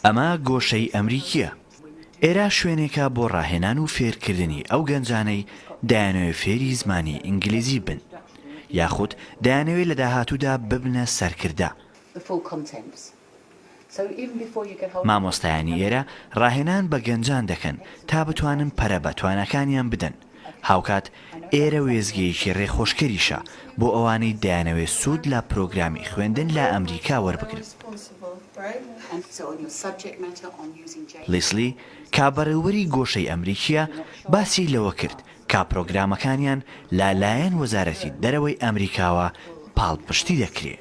ئەمە گۆشەی ئەمریکییە. ئێرە شوێنێکە بۆ ڕاهێنان و فێرکردنی ئەو گەنجانەی دەیانەوێ فێری زمانی ئینگلیزی بن یاخود دەیانەوێ لە داهاتوودا ببنە سەرکردە. مامۆستایانی ئێرە ڕاهێنان بە گەنجان دەکەن تا بتوانن پەرە بە تواناکانیان بدەن. هاوکات ئێرە وێستگەیەکی رێخۆشکەریشە بۆ ئەوانەی دەیانەوێت سوود لە پرۆگرامی خوێندن لە ئەمریکا وەربگرن. لیسلی کا بەڕێوبەری گۆشەی ئەمریکییە باسی لەوە کرد کا پرۆگرامەکانیان لە لایەن وەزارەتی دەرەوەی ئەمریکاوە پاڵپشتی دەکرێ.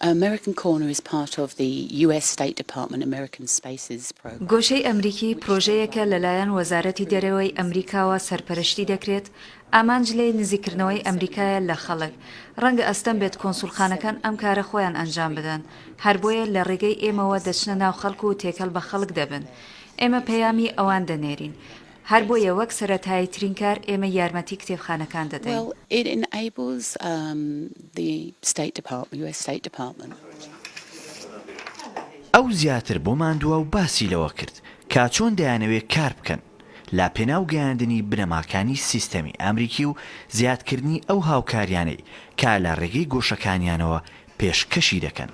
American Corner is part of the US State Department American Spaces Program. گۆشەی ئەمریکی پرۆژەیەکە لەلایەن وەزارەتی دەرەوەی ئەمریکاوە سەرپەرشتی دەکرێت، ئامانج لێی نزیککردنەوەی ئەمریکایە لە خەڵک، ڕەنگە ئەستەم بێت کۆنسوڵخانەکان ئەم کارە خۆیان ئەنجام بدەن، هەر بۆیە لە ڕێگەی ئێمەوە دەچنە ناو خەڵک و تێکەڵ بە خەڵک دەبن، ئێمە پەیامی ئەوان دەنێرین. هەر بۆیە وەک سەرەتاییترین کار ئێمە یارمەتی کتێبخانەکان دەدەین. ئەو زیاتر بۆ ماندواو باسی لەوە کرد کە چۆن دەیانەوێت کار بکەن لە پێناو گەیاندنی بنەماکانی سیستەمی ئەمریکی و زیادکردنی ئەو هاوکاریانەی کە لە ڕێگەی گۆشەکانیانەوە پێشکەشی دەکەن.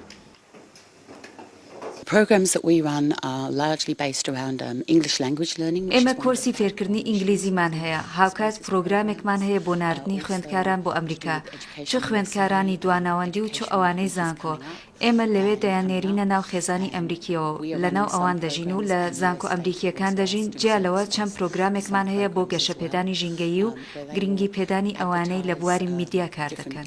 Programs that we run are largely based around English language learning which is one of the ئێمە کۆرسی فێرکردنی ئینگلیزیمان هەیە، هاوکات پرۆگرامێکمان هەیە بۆ ناردنی خوێندکاران بۆ ئەمریکا، چ خوێندکارانی دواناوەندی و چ ئەوانەی زانکۆ، ئێمە لەوێ دەیاننێرینە ناو خێزانی ئەمریکییەوە و لەناو ئەوان دەژین و لە زانکۆ ئەمریکییەکان دەژین، جیا لەوە چەند پرۆگرامێکمان هەیە بۆ گەشەپێدانی ژینگەیی و گرنگیپێدانی ئەوانەی لە بواری میدیا کار دەکەن.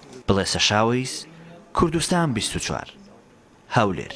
بڵێسەشاوەیس کوردستان بیست و چوار هەولێر.